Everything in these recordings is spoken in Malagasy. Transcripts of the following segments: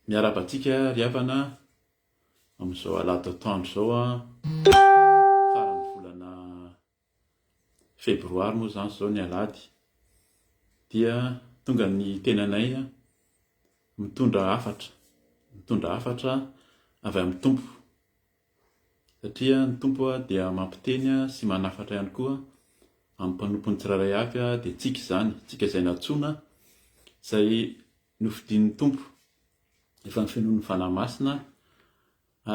Miarahaba antsika ry havana amin'izao alahady atoandro izao a! Faran'ny volana febroary moa izany izao ny alahady dia tonga ny tenanay mitondra hafatra, mitondra hafatra avy amin'ny Tompo. Satria ny Tompo dia mampiteny sy manafatra ihany koa amin'ny mpanompony tsirairay avy dia tsika izany, tsika izay nantsoina, izay nofidin'ny Tompo efa ny finoan'ny Fanahy Masina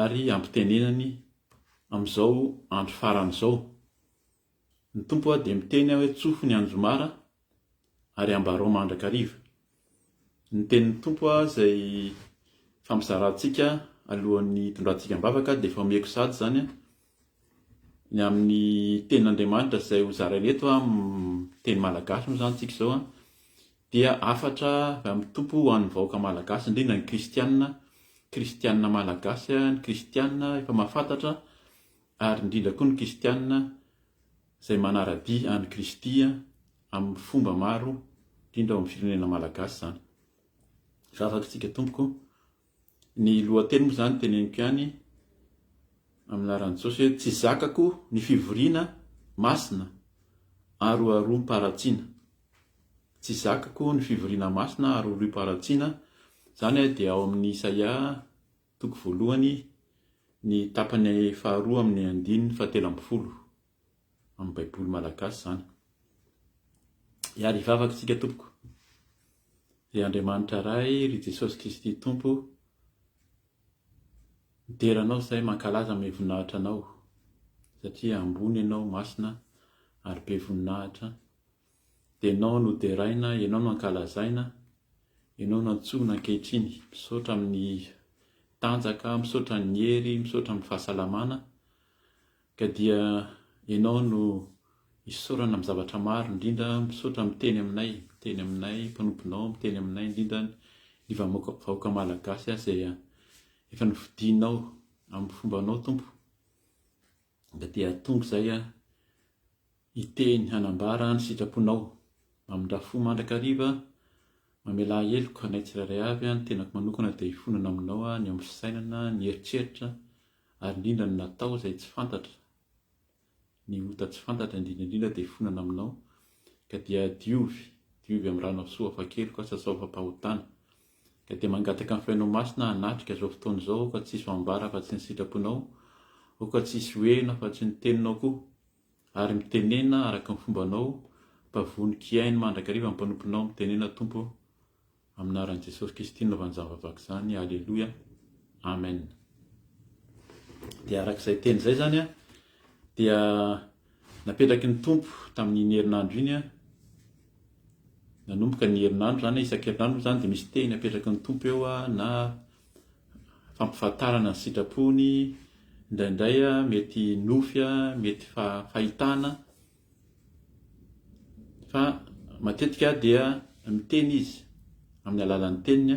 ary ampitenenany amin'izao andro farany izao. Ny Tompo aho dia miteny aho hoe tsofy ny anjomara ary ambarao mandrakariva. Ny tenin'ny Tompo aho izay fampizarantsika alohan'ny hitondrantsika am-bavaka dia efa omeko sady izany ny amin'ny tenin'Andriamanitra izay ho zaraina eto amin'ny teny malagasy moa izany tsika izao dia hafatra avy amin'ny Tompo ho an'ny vahoaka malagasy indrindra ny kristianina, kristianina malagasy, ny kristianina efa mahafantatra ary indrindra koa ny kristiana izay manara-dia an'i Kristy amin'ny fomba maro, indrindra ao amin'ny firenena malagasy izany. Vavaka isika tompoko, ny lohateny moa izany teneniko ihany amin'ny laran'i Jesosy hoe tsy zakako ny fivoriana masina aroaroam-paratsiana. Tsy zakako ny fivoriana masina aroaroam-paratsiana, izany dia ao amin'ny Isaia Toko voalohany, ny tapany faharoa amin'ny andininy fahatelo ambin'ny folo, amin'ny Baiboly malagasy izany. Hiala hivavaka isika tompoko. Ry Andriamanitra Ray, ry Jesosy Kristy Tompo, midera anao izay mankalaza amin'ny voninahitra anao, satria ambony ianao, masina, ary be voninahitra, Dia ianao no deraina, ianao no ankalazaina, ianao no antsoina ankehitriny. Misaotra amin'ny tanjaka, misaotra ny hery, misaotra amin'ny fahasalamana. Ka dia ianao no isaorana amin'ny zavatra maro, indrindra misaotra miteny aminay, miteny aminay mpanomponao, miteny aminay indrindra ny vahoaka malagasy izay efa nofidinao amin'ny fombanao Tompo. Dia te hahatonga izay aho hiteny, hanambara ny sitraponao. Mamindrà fo mandrakariva, mamelà heloka anay tsirairay avy, ny tenako manokana dia hifonana aminao, ny ao amin'ny fisainana, ny eritreritra, ary indrindra ny natao izay tsy fantatra, ny ota tsy fantatra indrindra indrindra dia hifonana aminao, ka dia diovy, diovy amin'ny ranao soa afa-keloka, sasao fampahotana. Ka dia mangataka ny Fanahy Masina hanatrika izao fotoana izao ka tsy hisy ho ambara afa-tsy ny sitraponao, oh ka tsy hisy ho heno afa-tsy ny teninao koa. Ary mitenena araka ny fombanao, mba vonon-kiaino mandrakariva ny mpanomponao, mitenena Tompo, amin'ny anaran'i Jesosy Kristy nanaovany izany vavaka izany, Aleloia, Amen. Dia araka izay teny izay izany dia Napetraky ny Tompo tamin'iny herinandro iny aho, nanomboka ny herinandro izany hoe isan-kerinandro moa izany dia misy tehiny apetraky ny Tompo eo na fampifantarana ny sitrapony, indraindray mety nofy, mety fahitana, fa matetika aho dia miteny izy amin'ny alalan'ny teniny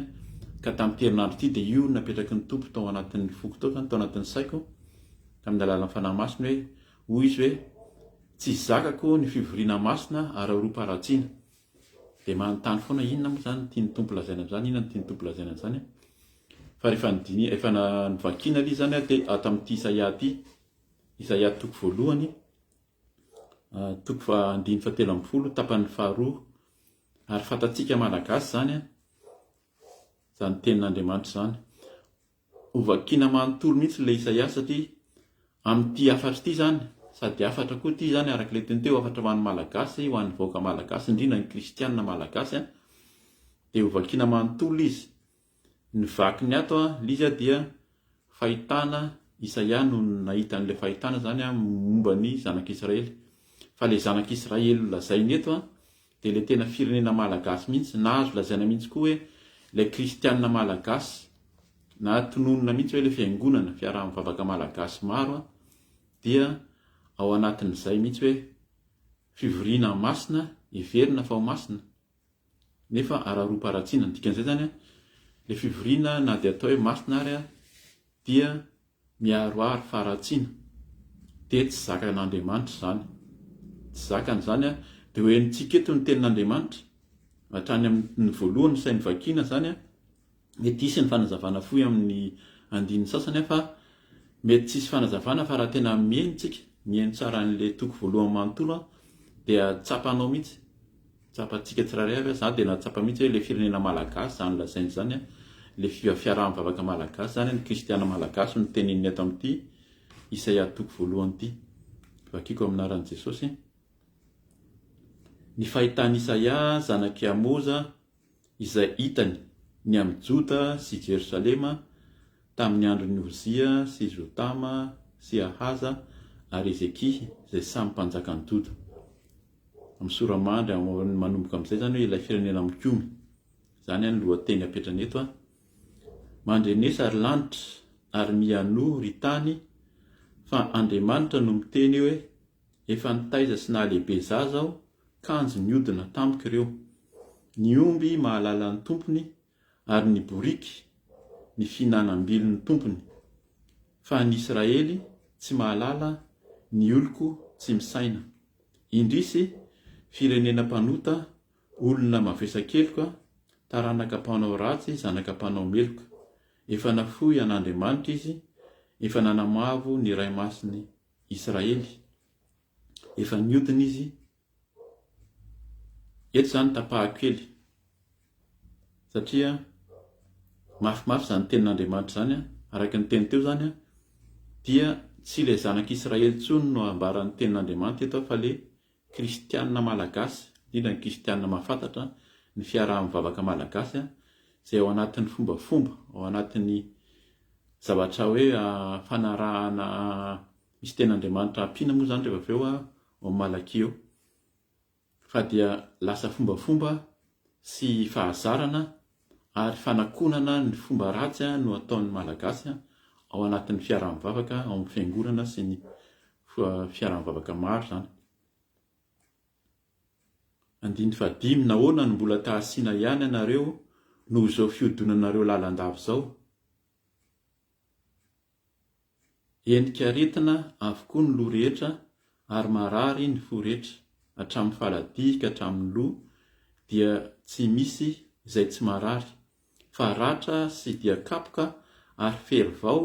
ka tamin'ity herinandro ity dia io no napetraky ny Tompo tao anatin'ny foko tao izany, tao anatin'ny saiko tamin'ny alalan'ny Fanahy Masina hoe Hoy izy hoe, Tsy zakako ny fivoriana masina ara-horom-paharatsiana. Dia manontany foana, inona moa izany no tian'ny Tompo lazaina amin'izany, inona no tian'ny Tompo lazaina amin'izany? Fa rehefa nodini-, efa na, novakina aloha izany aho dia ato amin'ity Isaia ity, Isaia toko voalohany, toko faha-, andininy fahatelo ambin'ny folo, tapany faharoa, ary fantatsika Malagasy izany an, izany tenin'Andriamanitra izany. Ho vakiana manontolo mihitsy ilay Isaia satria amin'ity hafatra ity izany, sady hafatra koa ity izany araka ilay teny teo, hafatra ho an'ny Malagasy, ho an'ny vahoaka Malagasy, indrindra ny Kristianina Malagasy, dia ho vakiana manontolo izy. Ny vakiny ato Liza dia fahitana, Isaia no nahita an'ilay fahitana izany momba ny zanak'Israely. Fa ilay zanak'Israely lazainy eto Dia ilay tena firenena malagasy mihitsy, na azo lazaina mihitsy koa hoe ilay kristianina malagasy, na tononina mihitsy hoe ilay fiangonana, fiaraha-mivavaka malagasy maro an, dia ao anatin'izay mihitsy hoe fivoriana masina, heverina fa ho masina, nefa araroam-paharatsiana. Ny dikan'izay izany an, ilay fivoriana na dia atao hoe masina ary an, dia Miaroaro faharatsiana, dia tsy zakan'Andriamanitra izany. Tsy zakany izany an! Dia ho henontsika eto ny tenin'Andriamanitra, hatrany amin'ny voalohany sahy novakiana izany an! Mety hisy ny fanazavana fohy amin'ny andininy sasany an! Fa mety tsy hisy fanazavana fa raha tena miheno isika, miheno tsara an'ilay toko voalohany manontolo an! Dia tsapanao mihitsy Tsapantsika tsirairay avy, za dia nahatsapa mihitsy hoe le firenena malagasy izany lazaina izany, le fiaraha-mivavaka malagasy izany, ny kristiana malagasy no tenenin'ny eto amin'ity Isaia toko voalohany ity. Vakiko amin'ny anaran'i Jesosy. Ny fahitan'i Isaia zanak'i Amoza izay hitany ny amin'i Joda sy Jerosalema tamin'ny andron'i Ozia sy Jotama sy Ahaza ary Hezekia izay samy mpanjakan'i Joda. Amin'ny sora-mandry manomboka amin'izay izany hoe ilay firenena mikomy. Izany any lohateny apetrany eto a. Mandrenesa ry lanitra ary mihainoa ry tany fa Andriamanitra no miteny hoe efa nitaiza sy nahalehibe zaza aho kanjo niodina tamiko ireo, ny omby mahalala ny tompony ary ny boriky ny fihinanam-bilin'ny tompony, fa ny Israely tsy mahalala ny oloko tsy misaina. Indrisy, firenena mpanota, olona mavesa-keloka, taranaka mpanao ratsy, zanaka mpanao meloka. Efa nafoy an'Andriamanitra izy, efa nanamavo ny Ray Masin'i Israely. Efa niodina izy. Eto izany tapahako kely satria mafimafy izany tenin'Andriamanitra izany, araka ny teny teo izany dia tsy ilay zanak'Israely intsony no ambaran'ny tenin'Andriamanitra eto fa ilay kristianina malagasy, indrindra ny kristianina mahafantatra ny fiaraha-mivavaka malagasy izay ao anatin'ny fombafomba, ao anatin'ny zavatra hoe fanarahana Misy teny Andriamanitra ampiana moa izany rehefa avy eo ao Malakia ao, fa dia lasa fombafomba sy fahazarana ary fanakonana ny fomba ratsy no ataon'ny Malagasy ao anatin'ny fiaraha-mivavaka ao amin'ny fiangonana sy ny fiaraha-mivavaka maro izany. Andininy fahadimy, nahoana no mbola tahasina ihany ianareo noho izao fihodonanareo lalandava izao? Endrika aretina avokoa ny loha rehetra ary marary ny fo rehetra hatramin'ny faladihy ka hatramin'ny loha dia tsy misy izay tsy marary fa ratra sy dia kapoka ary fery vao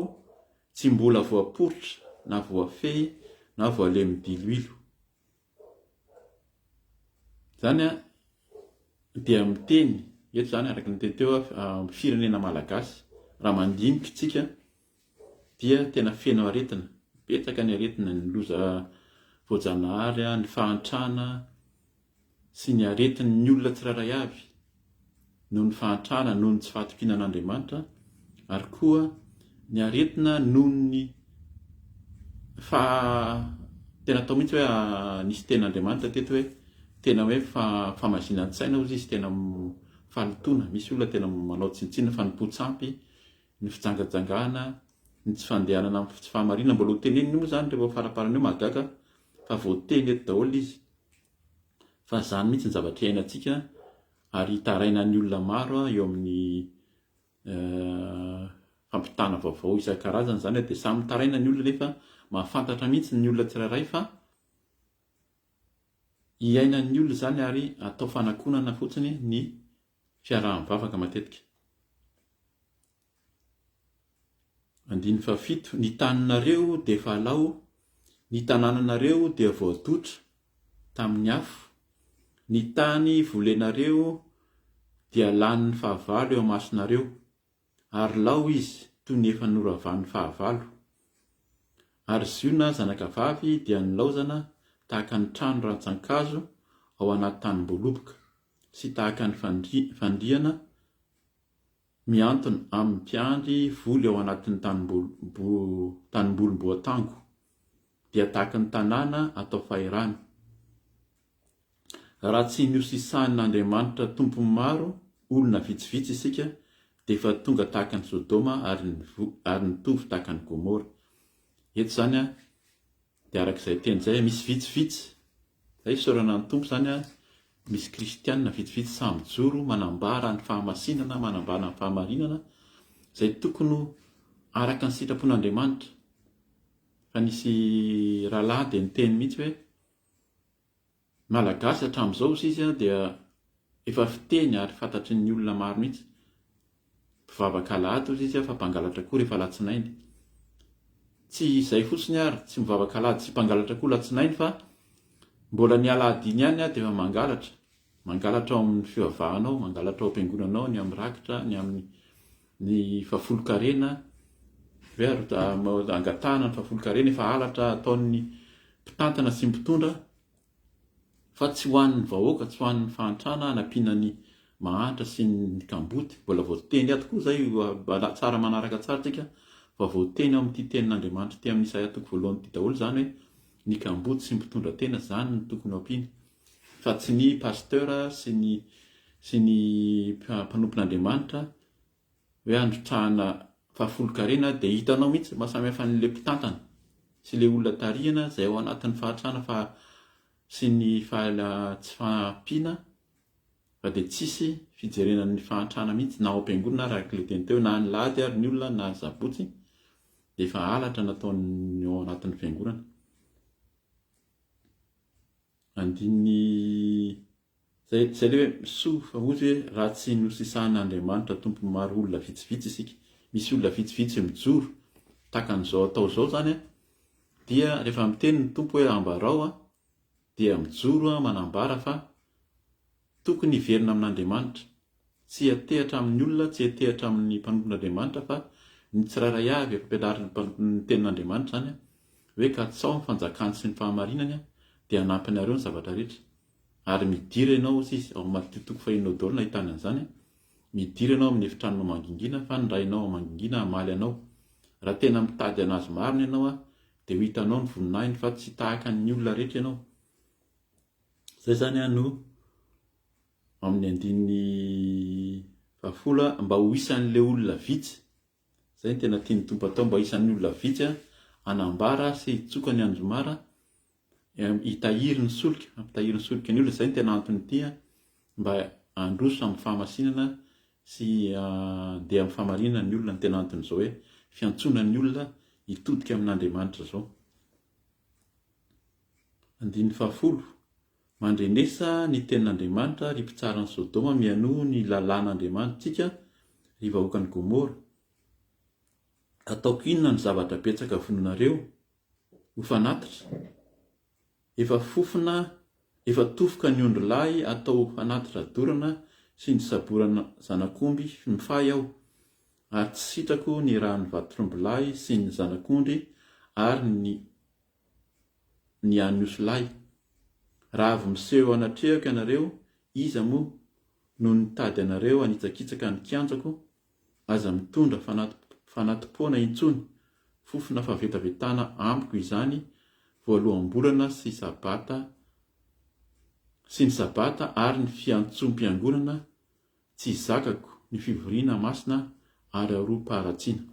tsy mbola voaporitra na voafehy na voalemy diloilo. Izany dia miteny eto izany araka ny teny teo amin'ny firenena malagasy. Raha mandinika isika dia tena feno aretina, betsaka ny aretina, ny loza voajanahary, ny fahantrana sy ny aretin'ny olona tsirairay avy. noho ny fahantrana noho ny tsy fahatokiana an'Andriamanitra, ary koa ny aretina noho ny fa tena atao mihitsy hoe nisy teny Andriamanitra teto hoe tena hoe famazinan-tsaina hozy izy tena fahalotoana, misy olona tena manao tsinontsinona fa ny po tsy ampy, ny fijangajangana, ny tsy fandehanana amin'ny tsy fahamarinana, mbola ho teneniny moa izany rehefa ho faraparany eo, mahagaga fa voateny eto daholo izy. fa izany mihitsy ny zavatra iainantsika ary hitarainan'ny olona maro eo amin'ny fampitana vaovao isan-karazany izany dia samy mitaraina ny olona nefa mahafantatra mihitsy ny olona tsirairay fa iainan'ny olona izany ary atao fanakonana fotsiny ny fiaraha-mivavaka matetika. Andininy fahafito, Ny taninareo dia efa alao, ny tanànanareo dia voadotra tamin'ny afo, ny tany volenareo dia lanin'ny fahavalo eo amasonareo, ary lao izy toy ny efa noravan'ny fahavalo. Ary Ziona zanakavavy dia nilaozana tahaka ny trano rantsan-kazo ao anaty tanim-boaloboka, sy tahaka ny fandriana Mihantona amin'ny mpiandry voly ao anatin'ny tanimbolim-boatango, dia tahaky ny tanàna atao fahirano. Raha tsy nihosisanin'Andriamanitra tompon'ny maro, olona vitsivitsy isika, dia efa tonga tahaka an'i Sodoma ary nitovy tahaka an'i Gomora. Eto izany an. Dia araka izay teny izay, misy vitsivitsy, izay fisaorana ny Tompo izany, misy kristiana vitsivitsy sahy mijoro manambara ny fahamasinana, manambara ny fahamarinana, izay tokony ho araka ny sitrapon'Andriamanitra. Fa nisy rahalahy dia niteny mihitsy hoe, Malagasy hatramin'izao hoy izy dia efa fiteny ary fantatry ny olona maro mihitsy. Mpivavaka alahady hoy izy fa mpangalatra koa rehefa alatsinainy. Tsy izay fotsiny ary, tsy mivavaka alahady sy mpangalatra koa alatsinainy fa mbola ny alahady iny ihany dia efa mangalatra. Mangalatra ao amin'ny fivavahana ao, mangalatra ao am-piangonana ao, ny amin'ny rakitra, ny amin'ny. Ny fahafolon-karena ve ary angatahana ny fahafolon-karena efa halatra ataon'ny mpitantana sy ny mpitondra fa tsy ho an'ny vahoaka, tsy ho an'ny fahantrana hanampiana ny mahantra sy ny kamboty. Mbola voateny ato koa izay tsara manaraka tsara tsika fa voateny ao amin'ity tenin'Andriamanitra ity amin'ny Isaia toko voalohany ity daholo izany hoe ny kamboty sy ny mpitondra tena izany no tokony ho ampiana. Fa tsy ny Pasteur sy ny sy ny mpanompon'Andriamanitra hoe handrotrahana fahafolonkarena dia hitanao mihitsy ny mahasamihafan'ilay mpitantana sy ilay olona tarihina izay ao anatin'ny fahantrana fa sy ny fahala tsy fahampiana fa dia tsisy fijerena ny fahantrana mihitsy na ao am-piangonana ary araka ilay teny teo na ny lahady ary ny olona na ny sabotsy dia efa halatra nataon'ny ao anatin'ny fiangonana. Andininy izay izay ilay hoe misoa fa hozy hoe raha tsy nosisahan'Andriamanitra tompony maro olona vitsivitsy isika, misy olona vitsivitsy mijoro tahaka an'izao atao izao izany dia rehefa miteny ny Tompo hoe ambarao dia mijoro manambara fa Tokony hiverina amin'Andriamanitra. Tsy hiantehatra amin'ny olona, tsy hiantehatra amin'ny mpanompon'Andriamanitra fa ny tsirairay avy, efa ampianarin'ny mpanompo ny tenin'Andriamanitra izany an, hoe katsaho ny fanjakany sy ny fahamarinany an, dia hanampy anareo ny zavatra rehetra. Ary midira ianao, hoy izy, ao Matthieu toko fahenina ao daholo no nahitany an'izany an, midira ianao amin'ny efitranonao mangingina fa ny Rainao ao mangingina hamaly anao. Raha tena mitady an'Azy marina ianao an, dia ho hitanao ny voninahiny fa tsy tahaka ny olona rehetra ianao. Izay izany an no amin'ny andininy fahafolo mba ho isan'ilay olona vitsy. Izay no tena tian'ny Tompo atao mba isan'ny olona vitsy hanambara sy hitsoka ny anjomara, hitahiry ny solika, hampitahiry ny solika ny olona. Izay no tena antony ity an, mba handroso amin'ny fahamasinana sy handeha amin'ny fahamarinana ny olona no tena anton'izao hoe fiantsoana ny olona hitodika amin'Andriamanitra izao. Andininy fahafolo, Mandrenesa ny tenin'Andriamanitra, ry mpitsaran'i Sodoma, mihainoa ny lalàn'Andriamanitsika, ry vahoakan'i Gomora. Ataoko inona ny zavatra betsaka vonoinareo? Ho fanatitra? Efa fofona, efa tofoka ny ondry lahy atao fanatitra dorana sy ny saborana zanak'omby mifay aho, ary tsy sitrako ny rà ny vatotr'omby lahy sy ny zanak'ondry ary ny ny an'ny osilahy. Raha avy miseho anatrehako ianareo, iza moa no nitady anareo hanitsakitsaka ny kianjako? Aza mitondra fanati-poana intsony, fofona fahavetavetana amiko izany voaloham-bolana sy sabata sy ny sabata ary ny fiantsom-piangonana tsy zakako, ny fivoriana masina ary aropa-haratsiana.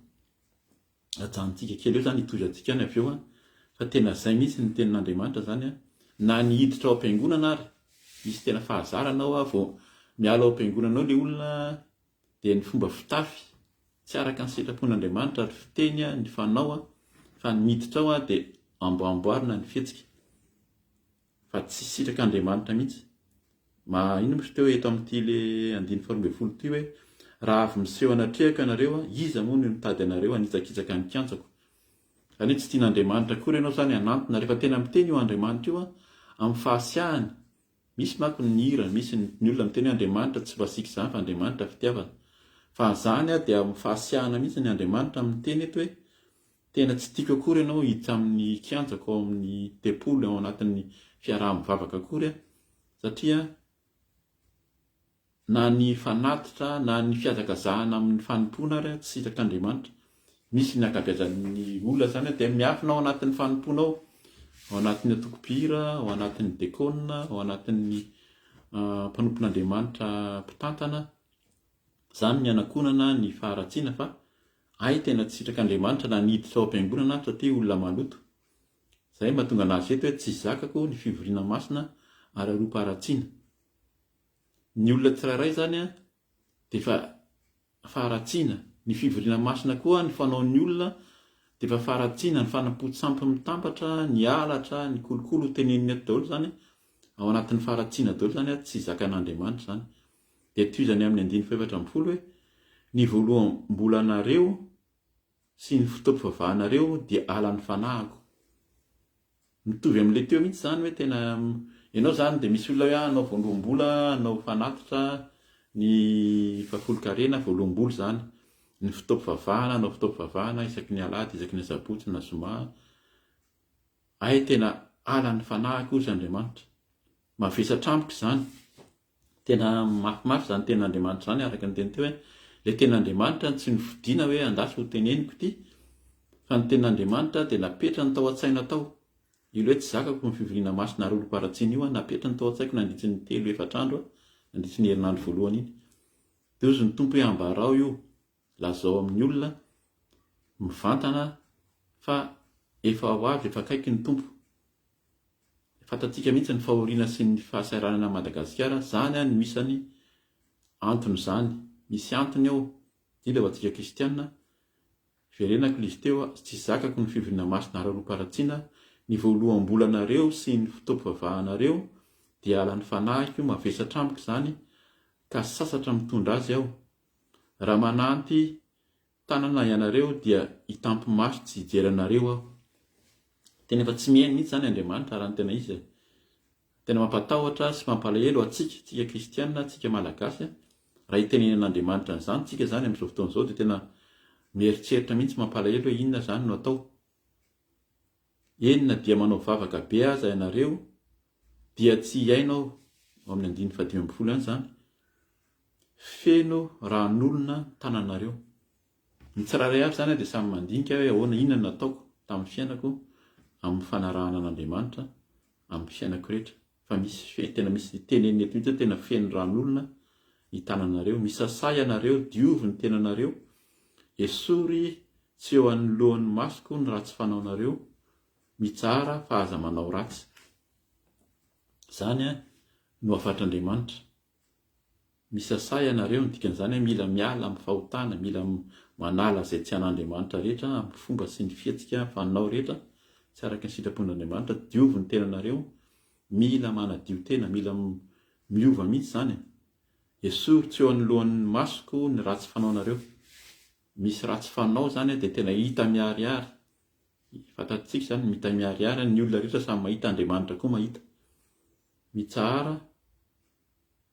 ajanontsika kely eo zany hitohizantsika any avy eo an, fa tena zay mihitsy ny tenin'Andriamanitra zany an, na ny hiditra ao am-piangonana ary, misy tena fahazarana ao an, vao miala ao am-piangonana ao ilay olona an, dia ny fomba fitafy tsy araka ny sitrapon'Andriamanitra ary fiteny an, ny fanao an, fa ny miditra ao an dia amboamboarina ny fihetsika. Fa tsy sitraka Andriamanitra mihitsy. Maha inona moa teo eto amin'ity le andininy faharoa ambin'ny folo ity hoe, Raha avy miseho anatrehako ianareo, iza moa no nitady anareo hanitsakitsaka ny kianjako? Izany hoe tsy tian'Andriamanitra akory ianao izany hanantona. Rehefa tena miteny io Andriamanitra io amin'ny fahasiahany, misy manko ny hira, misy ny olona miteny hoe Andriamanitra tsy masiaka izany fa Andriamanitra fitiavana. Fa izany dia amin'ny fahasiahana mihitsy ny Andriamanitra no miteny eto hoe, Tena tsy tiako akory ianao hiditra amin'ny kianjako ao amin'ny tempoly ao anatin'ny fiaraha-mivavaka akory aho, satria na ny fanatitra na ny fihazakazahana amin'ny fanompoana ary aho tsy sitrak'Andriamanitra. Misy ny ankabeazan'ny olona izany aho dia miafina ao anatin'ny fanompoana ao, ao anatin'ny antoko-pihira, ao anatin'ny dekona, ao anatin'ny mpanompon'Andriamanitra mpitantana, izany ny hanakonana, ny faharatsiana fa Hay tena tsy sitraka Andriamanitra na ny hiditra ao am-piangonana aho satria olona maloto. Izay no mahatonga anazy eto hoe tsy zakako ny fivoriana masina ary aropa-haratsiana. Ny olona tsirairay izany dia efa faharatsiana, ny fivoriana masina koa ny fanaon'ny olona dia efa faharatsiana, ny fanampoan-tsampy mitambatra, ny halatra, ny kolikoly ho tenenina eto daholo izany ao anatin'ny faharatsiana daholo izany ary tsy zakan'Andriamanitra izany. Dia tohizany amin'ny andininy fahefatra ambin'ny folo hoe, Ny voaloham-bolanareo sy ny fotoam-pivavahanareo dia halan'ny fanahiko. Mitovy amin'ilay teo mihitsy izany hoe tena ianao izany dia misy olona hoe ah anao voaloham-bola, anao fanatitra, ny fahafolonkarena voaloham-bola izany, ny fotoam-pivavahana, anao fotoam-pivavahana isaky ny alahady, isaky ny asabotsy na zoma, ahy tena halan'ny fanahiko hoy Andriamanitra. Mavesatra amiko izany. Tena mafimafy izany tenin'Andriamanitra izany araka ny teny teo hoe ilay tenin'Andriamanitra no tsy nofidina hoe andahy sao teneniko ity fa ny tenin'Andriamanitra dia napetrany tao an-tsaina tao. Io ilay hoe tsy zakako ny fivoriana masina ary olom-paharatsiana io an, napetrany tao an-tsaiko nandritry ny telo efatra andro an, nandritry ny herinandro voalohany iny. Dia hozy ny Tompo hoe ambarao io. Lazao amin'ny olona mivantana fa efa ho avy, efa akaiky ny Tompo. Fantatsika mihitsy ny fahoriana sy ny fahasahiranana an'i Madagasikara, izany no isany anton'izany. Misy antony ao, indrindra ho antsika kristiana, hiverenako ilay izy teo, tsy zakako ny fivoriana masinareo roa paratsiana, ny voaloham-bolanareo sy ny fotoam-pivavahanareo dia halan'ny fanahiko, mavesatra amiko izany ka sasatra mitondra azy aho, Raha manampy tanana ianareo dia hitampy-maso tsy hijery anareo aho. Tena efa tsy mihaino mihitsy izany Andriamanitra raha ny tena izy. Tena mampatahotra sy mampalahelo antsika, antsika kristiana, antsika malagasy, raha hitenenin'Andriamanitra an'izany isika izany amin'izao fotoana izao dia tena mieritreritra mihitsy mampalahelo hoe inona izany no atao. Eny na dia manao vavaka be aza ianareo, dia tsy hiaina aho, ao amin'ny andininy fahadimy ambin'ny folo ihany izany, feno ran'olona ny tananareo. Ny tsirairay avy izany dia samy mandinika hoe ahoana, inona no nataoko tamin'ny fiainako amin'ny fanarahana an'Andriamanitra amin'ny fiainako rehetra. Fa misy tena misy teneniny eto mihitsy tena feno ran'olona ny tananareo. Misasà ianareo, diovy ny tenanareo, esory tsy eo anoloan'ny masoko ny ratsy fanaonareo, mitsara fa aza manao ratsy. Izany no hafatr'Andriamanitra. Misasà ianareo, ny dikan'izany hoe mila miala amin'ny fahotana, mila manala izay tsy an'Andriamanitra rehetra amin'ny fomba sy ny fihetsika fanao rehetra tsy araka ny sitrapon'Andriamanitra, diovy ny tenanareo, mila manadio tena, mila miova mihitsy izany. Esory tsy eo anoloan'ny masoko ny ratsy fanaonareo. Misy ratsy fanao izany dia tena hita miharihary. Fantatsika izany, mitamiharihary ny olona rehetra samy mahita, Andriamanitra koa mahita. Mitsahara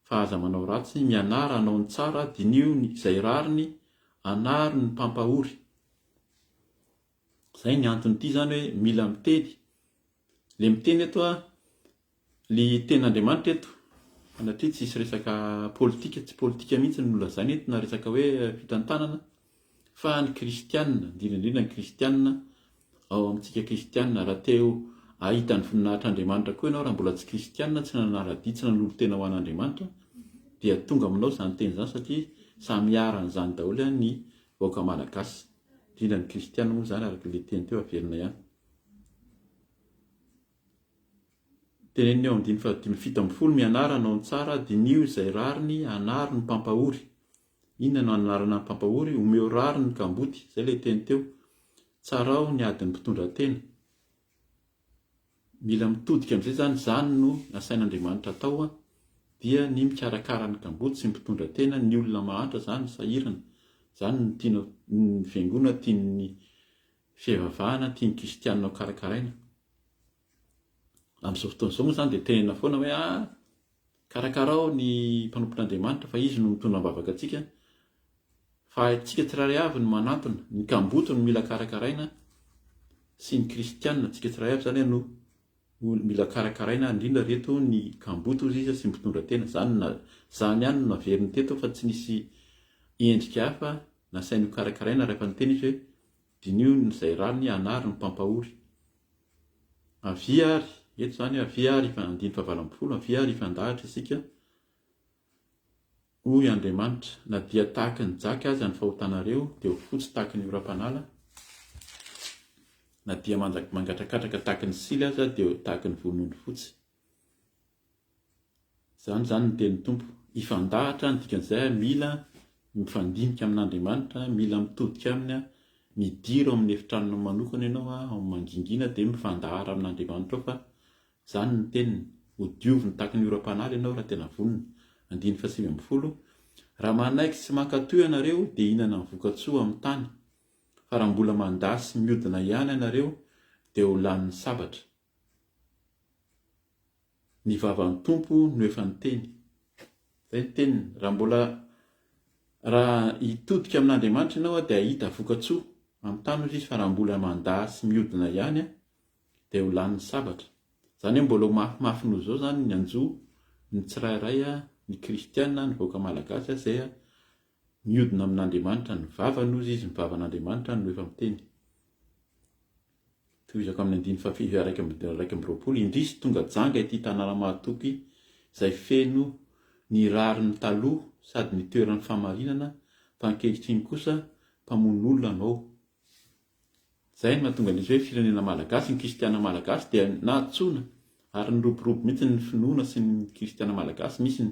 fa aza manao ratsy, mianara hanao ny tsara, diniho ny izay rariny, anaro ny mpampahory. Izay ny anton'ity izany hoe mila miteny. Ilay miteny eto a, ilay tenin'Andriamanitra eto, sanatria tsy hisy resaka politika, tsy politika mihitsy no nolazaina eto na resaka hoe fitantanana fa ny kristianina, indrindra indrindra ny kristianina ao amintsika kristianina, raha te hahita ny voninahitr'Andriamanitra koa ianao raha mbola tsy kristianina, tsy nanara-dia, tsy nanolo-tena ho an'Andriamanitra dia tonga aminao izany teny izany satria samy iharan'izany daholo ihany ny vahoaka malagasy, indrindra ny kristianina moa izany araka ilay teny teo averina ihany. Teneniny ao amin'ny dimy fahadimy fito ambin'ny folo Mianara hanao ny tsara, diniho izay rariny, anaro ny mpampahory. Inona no anarana ny mpampahory? Omeo rariny ny kamboty, izay ilay teny teo. Tsaraho ny adin'ny mpitondratena. Mila mitodika amin'izay izany, izany no nasain'Andriamanitra atao, dia ny mikarakara ny kamboty sy ny mpitondratena, ny olona mahantra izany sahirana. Izany no tiana ny fiangonana, tian'ny fivavahana tian'ny kristianina ho karakaraina. Amin'izao fotoana izao moa izany dia tenenina foana hoe ah, karakarao ny mpanompon'Andriamanitra fa izy no mitondra am-bavaka antsika, fa antsika tsirairay avy no manantona, ny kamboty no mila karakaraina sy ny kristianina antsika tsirairay avy izany no mila karakaraina indrindra reto ny kamboty hoy izy sy mitondra tena izany na izany ihany no naveriny teto fa tsy nisy endrika hafa nasainy ho karakaraina rehefa niteny izy hoe Diniho ny izay rariny hanary ny mpampahory. Avia àry, eto izany hoe avia àry, andininy fahavalo ambin'ny folo, avia àry hifandahatra isika, hoy Andriamanitra, na dia tahaka ny jaky aza ny fahotanareo, dia ho fotsy tahaka ny oram-panala, na dia mangatakatraka tahaka ny sily aza, dia tahaka ny vonono fotsy. Izany izany ny tenin'ny Tompo. Hifandahatra ny dikan'izay, mila mifandinika amin'Andriamanitra, mila mitodika Aminy, midira ao amin'ny efitranonao manokana ianao, ao amin'ny mangingina, dia mifandahara amin'Andriamanitra ao fa izany ny teniny. Hodioviny tahaka ny oram-panala ianao raha tena vonona. Andininy fahasivy ambin'ny folo, Raha manaiky sy mankato ianareo, dia hihinana ny voka-tsoa amin'ny tany, fa raha mbola mandà sy miodina ihany ianareo, dia ho lanin'ny sabatra. Ny vavan'ny Tompo no efa niteny. Izay ny teniny. Raha mbola, raha hitodika amin'Andriamanitra ianao dia hahita vokatsoa. Amin'ny tany hoy izy fa raha mbola mandà sy miodina ihany dia ho lanin'ny sabatra. Izany hoe mbola ho mafimafy noho izao izany ny anjo ny tsirairay, ny kristiana, ny vahoaka malagasy izay miodina amin'Andriamanitra. Ny vavany hoy izy, ny vavan'Andriamanitra no efa miteny. Tohizako amin'ny andininy fahafito sy iraika amby iraika amby roapolo, Indrisy tonga janga ity tanàna mahatoky izay feno ny rariny taloha sady nitoeran'ny fahamarinana fa ankehitriny kosa mpamono olona anao. Izay no mahatonga an'izy hoe firenena malagasy, ny kristiana malagasy dia nahantsoina Ary niroborobo mihitsy ny finoana sy ny kristiana malagasy, misy ny,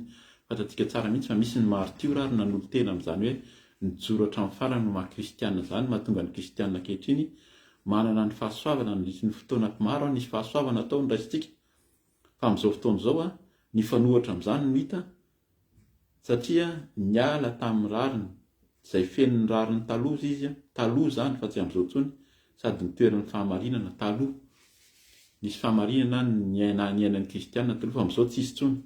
fantatsika tsara mihitsy fa misy ny maritiora ary nanolo-tena amin'izany hoe nijoro hatramin'ny farany ho maha kristiana izany, mahatonga ny kristiana ankehitriny manana ny fahasoavana nandritry ny fotoana maro an, nisy fahasoavana tao no raisintsika, fa amin'izao fotoana izao an, nifanohitra amin'izany no hita, Satria niala tamin'ny rariny, izay feno ny rariny taloha izy, taloha izany fa tsy amin'izao intsony, sady nitoerin'ny fahamarinana, taloha, nisy fahamarinana niaina niainan'ny kristiana taloha fa amin'izao tsisy intsony.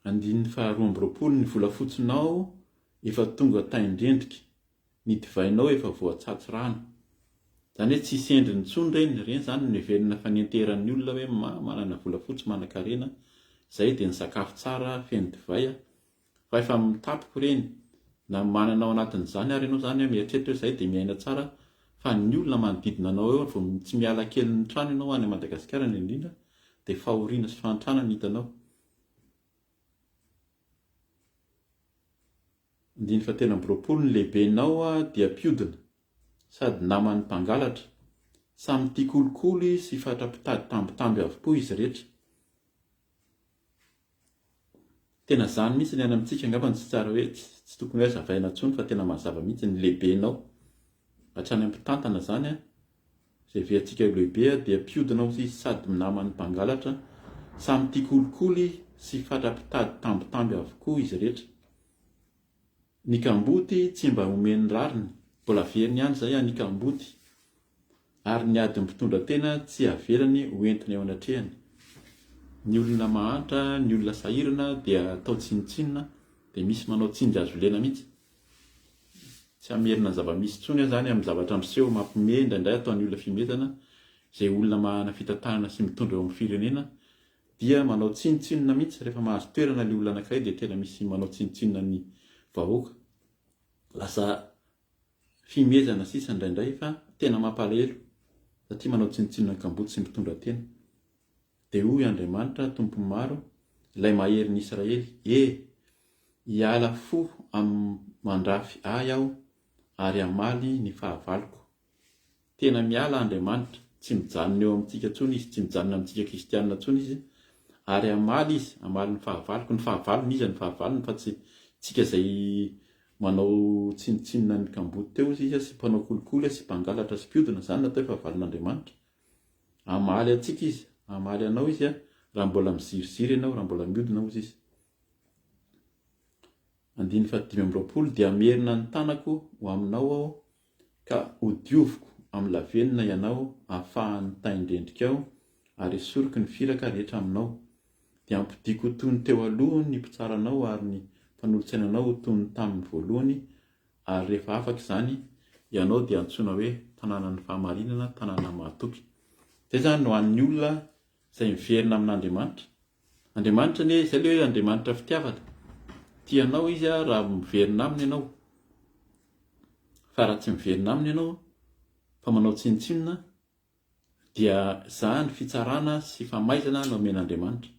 Andininy faharoa amby roapolo, ny volafotsinao efa tonga tain-drendrika. ny divainao efa voatsatso rano. Zany hoe tsisy endriny intsony ireny, ireny zany no niverina fa nienteran'ny olona hoe ma manana volafotsy manankarena, zay dia ny sakafo tsara feno divay a! fa efa mitapoko ireny, na manana ao anatin'izany ary ianao zany a mieritreritra hoe zay dia miaina tsara fa ny olona manodidina anao eo ary vao tsy miala kely ny trano ianao any Madagasikara indrindra dia fahoriana sy fahantrana no hitanao. Andininy fahatelo amby roapolo, Ny lehibenao dia mpiodina, sady naman'ny mpangalatra. Samy tia kolikoly sy fatra-pitady tambitamby avokoa izy rehetra. Tena izany mihitsy ny any amintsika angamba no tsy tsara hoe, tsy tokony hoe hazavaina intsony fa tena mazava mihitsy, ny lehibenao. Hatrany amin'ny mpitantana izany an! Izay veantsika ho lehibe dia mpiodina ho izy sady minaman'ny mpangalatra, samy tia kolikoly sy fatra mpitady tambitamby avokoa izy rehetra. Ny kamboty tsy mba omen'ny rariny, mbola averiny ihany izay any kamboty, ary ny adin'ny mpitondra tena tsy avelany ho entina eo anatrehany. Ny olona mahantra, ny olona sahirana dia atao tsinontsinona, dia misy manao tsinjazolena mihitsy. Tsy hamerina zava-misy intsony aho izany amin'ny zavatra miseho mampiomehy indraindray ataon'ny olona fimetana izay olona manana fitantanana sy mitondra eo amin'ny firenena dia manao tsinotsinona mihitsy rehefa mahazo toerana ilay olona anankiray dia tena misy manao tsinotsinona ny vahoaka lasa fihomezana sisa indraindray fa tena mampalahelo satria manao tsinotsinona ny kamboty sy mitondra tena Dia hoy Andriamanitra, Tompon'ny maro, Ilay Maherin'i Israely, E! hiala fo amin-mandrafy Ahy aho ary hamaly ny fahavaloko. Tena miala Andriamanitra, tsy mijanona eo amintsika intsony Izy, tsy mijanona amintsika kristiana intsony Izy, ary hamaly Izy, hamaly ny fahavaloko. Ny fahavalony, Iza ny fahavalony fa tsy tsika izay manao tsinontsinona ny kamboty teo Iza sy mpanao kolikoly sy mpangalatra sy mpiodina, izany no atao hoe fahavalon'Andriamanitra. Hamaly antsika Izy, hamaly anao Izy raha mbola miziriziry ianao, raha mbola miodina, hoy Izy. Andininy fahadimy amby roapolo, dia hamerina ny tanako ho aminao aho, ka hodioviko amin'ny lavenona ianao afahan'ny tain-drendrikao, ary esoriko ny firaka rehetra aminao. Dia hampodiako ho toy ny teo aloha ny mpitsara anao, ary ny mpanolotsaina anao ho toy ny tamin'ny voalohany, Ary rehefa afaka izany, ianao dia antsoina hoe tanànan'ny fahamarinana, tanàna mahatoky. Izay izany no an'ny olona izay miverina amin'Andriamanitra. Andriamanitra anie, izay ilay hoe Andriamanitra fitiavana. Tia anao izy raha miverina aminy ianao. Fa raha tsy miverina aminy ianao, fa manao tsinontsinona, dia izany fitsarana sy famaizana no omen'Andriamanitra.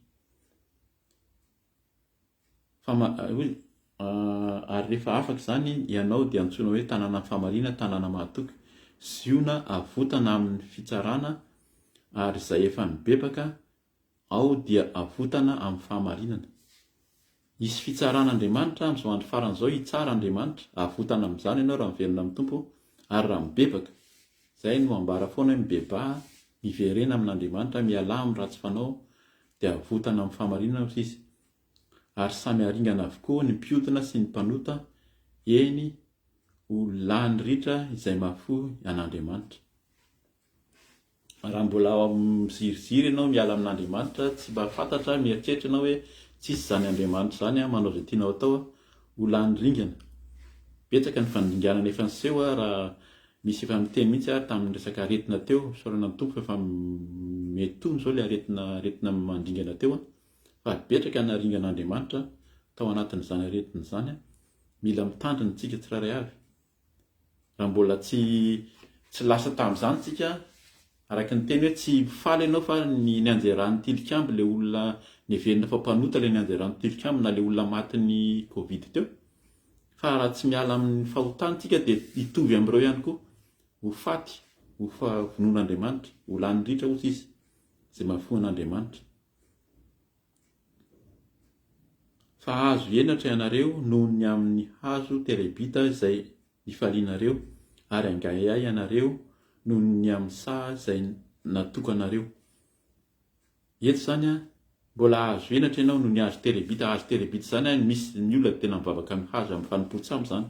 Ary rehefa afaka izany ianao dia antsoina hoe tanànan'ny fahamariana, tanàna mahatoky. Ziona avotana amin'ny fitsarana, ary izay efa nibebaka ao dia avotana amin'ny fahamarinana. Hisy fitsaran'Andriamanitra amin'izao andro farany izao, hitsara Andriamanitra, avotana amin'izany ianao raha miverina amin'ny Tompo ary raha mibebaka. Izay no ambara foana hoe mibebaha, miverena amin'Andriamanitra, mialà amin'ny ratsy fanao, dia havotana amin'ny fahamarinana hoy izy, ary samy haringana avokoa ny mpiodina sy ny mpanota, eny, ho lany ritra izay mahafoy an'Andriamanitra. Raha mbola miziriziry ianao miala amin'Andriamanitra, tsy mba fantatra, mieritreritra ianao hoe tsisy izany Andriamanitra izany, manao izay tianao atao, ho lany ringana. Betsaka ny fandringanana efa niseho raha Nisy efa niteny mihitsy ary tamin'ny resaka aretina teo, fisaorana ny Tompo f'efa mety tony izao ilay aretina aretina mandringana teo an! fa betraka ny naringan'Andriamanitra tao anatin'izany aretina izany an! mila mitandrina isika tsirairay avy raha mbola tsy tsy lasa tamin'izany isika Araka ny teny hoe tsy faly ianao fa ny nianjeran'ny tilikambo ilay olona neverina fa mpanota ilay nianjeran'ny tilikambo na ilay olona matin'ny covid teo. Fa raha tsy miala amin'ny fahotana isika dia hitovy amin'ireo ihany koa. Ho faty, ho vonoin'Andriamanitra, ho lanin'ny ritra hozy izy izay mahafoy an'Andriamanitra. Fa hahazo henatra ianareo noho ny amin' ny hazo terebita izay nifalianareo, ary hangaehay ianareo noho ny amin' ny saha izay natokanareo. Eto izany, mbola hahazo henatra ianao noho ny hazo terebita. Hazo terebita izany, misy ny olona dia tena mivavaka ny hazo amin' ny fanompoan-tsambo izany.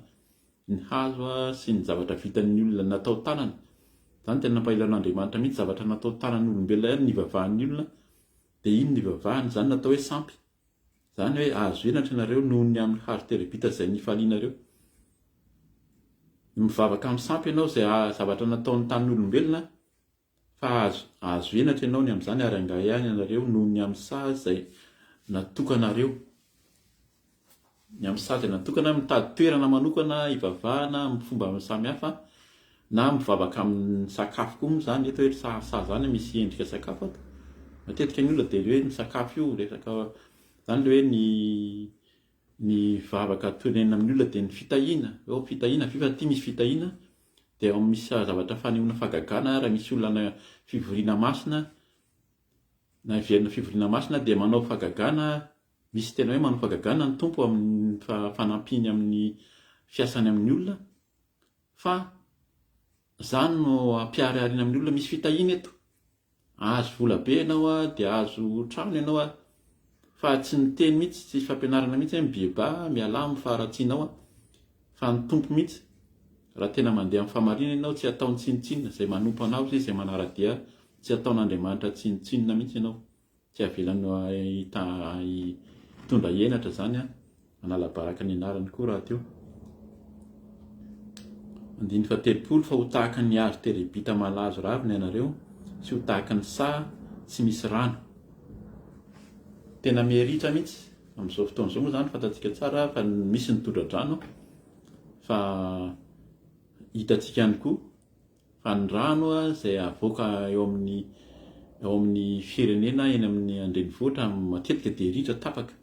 Ny hazo sy ny zavatra vitan' ny olona natao tanana. Izany tena nampahelan' Andriamanitra mihitsy, zavatra natao tanan' olombelona ihany ny hivavahan' ny olona, Dia iny nivavahana izany natao hoe sampy. Izany hoe hahazo henatra ianareo noho ny amin'ny hazo terebita izay nifalianareo. Mivavaka amin'ny sampy ianao izay haha zavatra nataon'ny tanin'olombelona fa hahazo henatra ianao ny amin'izany ary hangahy ihany ianareo noho ny amin'ny saha izay natokanareo. Ny amin'ny sazy natokana, mitady toerana manokana hivavahana amin'ny fomba samihafa na mivavaka amin'ny sakafo koa moa izany, eto hoe ny sazy izany misy endrika sakafo ato, matetika ny olona dia hoe ny sakafo io resaka, izany ilay hoe ny ny vavaka tonenina amin'ny olona dia ny fitahiana, hoe fitahiana ve fa aty misy fitahiana, dia ao misy zavatra fanehoana fahagagana raha misy olona any fivoriana masina na hiverina fivoriana masina dia manao fahagagana. Misy tena hoe manao fagagana ny Tompo amin'ny fanampiany amin'ny fiasany amin'ny olona fa za no ampiharihariana amin'ny olona misy fitahiana eto. Ahazo vola be ianao a, dia ahazo trano ianao a, fa tsy miteny mihitsy, tsisy fampianarana mihitsy hoe mibiebà, mialà amin'ny faharatsianao a, fa ny Tompo mihitsy raha tena mandeha amin'ny fahamarinana ianao tsy hataony tsinontsinona, izay manompo anao sy izay manara-dia tsy hataon'Andriamanitra tsinontsinona mihitsy ianao. Tsy havelany hitondra henatra izany an, hanala baraka ny anarany koa rahateo. Andininy fahatelopolo fa ho tahaka ny hazo terebita malazo ravina ianareo sy ho tahaka ny saha tsy misy rano. Tena miha-ritra mihitsy amin'izao fotoana izao moa izany fantatsika tsara fa misy ny tondra-drano fa hitantsika ihany koa Fa ny rano izay avoaka eo amin'ny eo amin'ny firenena eny amin'ny andrenivohitra matetika dia ritra tapaka.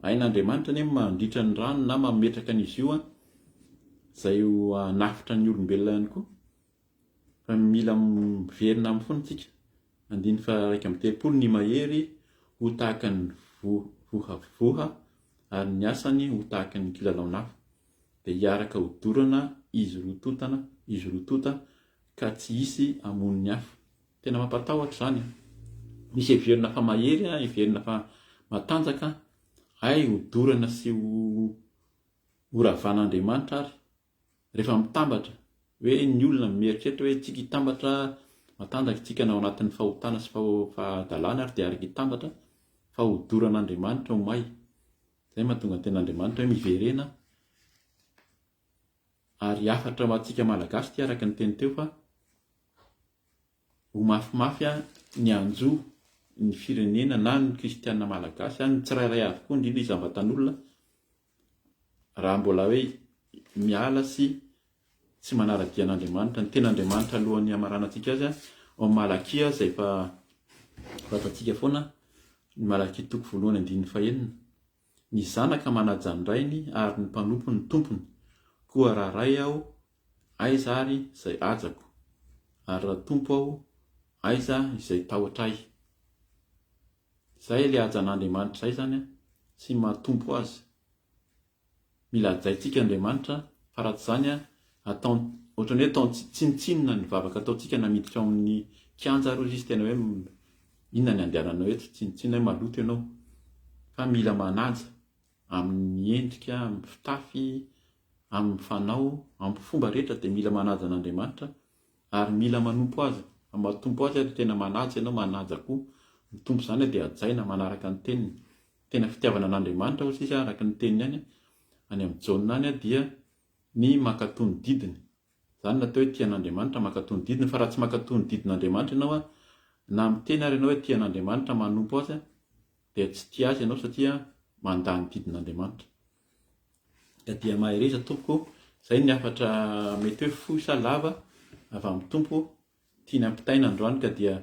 Hain'Andriamanitra anie ny mandritra ny rano na mametraka an'izy io izay ho hanafotra ny olombelona ihany koa. Fa mila miverina aminy foana isika. Andininy faha-iraika amby telopolo ny mahery ho tahaka ny vohavoha ary ny asany ho tahaka ny kilalaon'afo. dia hiaraka ho dorana izy roa totana, izy roa tota ka tsy hisy hamono ny hafa. Tena mampatahotra izany an! Misy heverina fa mahery an, heverina fa matanjaka hay ho dorana sy ho ho ravan'Andriamanitra ary rehefa mitambatra hoe ny olona mieritreritra hoe tsika hitambatra matanjaka tsika na ao anatin'ny fahotana sy fahadalana ary dia araka hitambatra fa ho doran'Andriamanitra ho may Izay no mahatonga ny tenin'Andriamanitra hoe miverena ary hafatra ho antsika Malagasy ity araka ny teny teo fa ho mafimafy ny hanjo ny firenena na ny kristiana malagasy, ny tsirairay avy koa indrindra isam-batan'olona raha mbola hoe miala sy tsy manara-dia an'Andriamanitra, ny tena Andriamanitra alohan'ny hamaranantsika azy ao Malakia izay efa fantatsika foana, ny Malakia toko voalohany andininy fahenina. Ny zanaka manaja ny rainy ary ny mpanompo ny tompony. Koa raha ray aho, aiza ary izay hajako? Ary raha tompo aho, aiza izay tahotra ahy? Izay ilay hajan'Andriamanitra izay izany, tsy maha-tompo azy. Mila hajaintsika Andriamanitra fa raha tsy izany ataon ohatran'ny hoe ataony tsinontsinona ny vavaka ataontsika na miditra ao amin'ny kianja ary hoy izy tena hoe inona ny andehananao eto, tsinontsinona hoe maloto ianao. Fa mila manaja amin'ny endrika, amin'ny fitafy, amin'ny fanao, amin'ny fomba rehetra dia mila manaja an'Andriamanitra ary mila manompo azy, matompo azy ary tena manaja ianao, manaja koa ny Tompo izany dia hajaina manaraka ny teniny. tena fitiavana an'Andriamanitra hoy sisa araka ny teniny any any amin'ny Jaona any dia ny mankatoa ny didiny. Izany no atao hoe tia an'Andriamanitra, mankatoa ny didiny, fa raha tsy mankatoa ny didin'Andriamanitra ianao a, na miteny ary ianao hoe tia an'Andriamanitra, manompo azy a, dia tsy tia azy ianao satria mandà ny didin'Andriamanitra. Ka dia mahereza tompoko, izay ny hafatra mety hoe fohy sa lava avy amin'ny Tompo Tiany hampitaina androany ka dia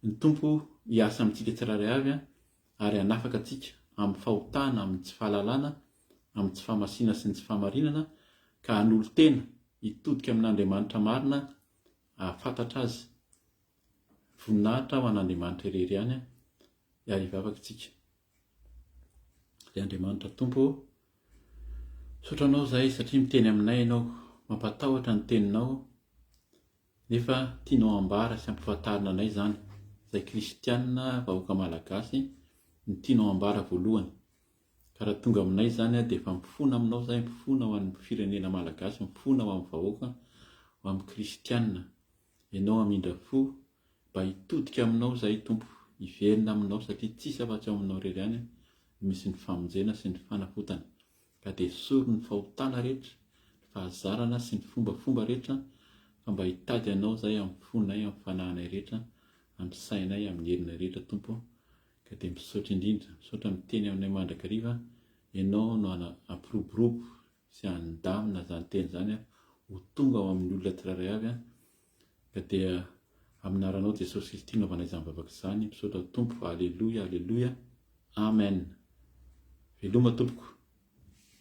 ny Tompo hiasa amintsika tsirairay avy an, ary hanafaka antsika amin'ny fahotana, amin'ny tsy fahalalana, amin'ny tsy fahamasiana sy ny tsy fahamarinana, ka hanolo-tena hitodika amin'Andriamanitra marina hahafantatra Azy. Voninahitra ho an'Andriamanitra irery ihany an, ary hivavaka isika. Ry Andriamanitra Tompo ô, misaotra Anao izahay satria miteny aminay Ianao, mampatahotra ny Teninao, Nefa tianao hambara sy hampafantarina anay izany, izay kristiana vahoaka malagasy, ny tianao hambara voalohany. Ka raha tonga aminay izany dia efa mifona aminao izahay, mifona ho an'ny firenena malagasy, mifona ho amin'ny vahoaka, ho amin'ny kristiana. Ianao hamindra fo, mba hitodika aminao izahay Tompo, hiverina aminao satria tsisy afa-tsy ao aminao irery ihany no misy ny famonjena sy ny fanafotana. ka dia esory ny fahotana rehetra, ny fahazarana sy ny fombafomba rehetra, fa mba hitady Anao izahay amin'ny fonay, amin'ny fanahinay rehetra, amin'ny sainay, amin'ny herinay rehetra, Tompo, ka dia misaotra indrindra, misaotra miteny aminay mandrakariva, Ianao no hampiroborobo sy handamina izany teny izany aho, ho tonga ao amin'ny olona tsirairay avy aho, Ka dia amin'aranao Jesosy Kristy naovana izany vavaka izany, misaotra Tompo, Aleloia, Aleloia, Amen. Veloma tompoko.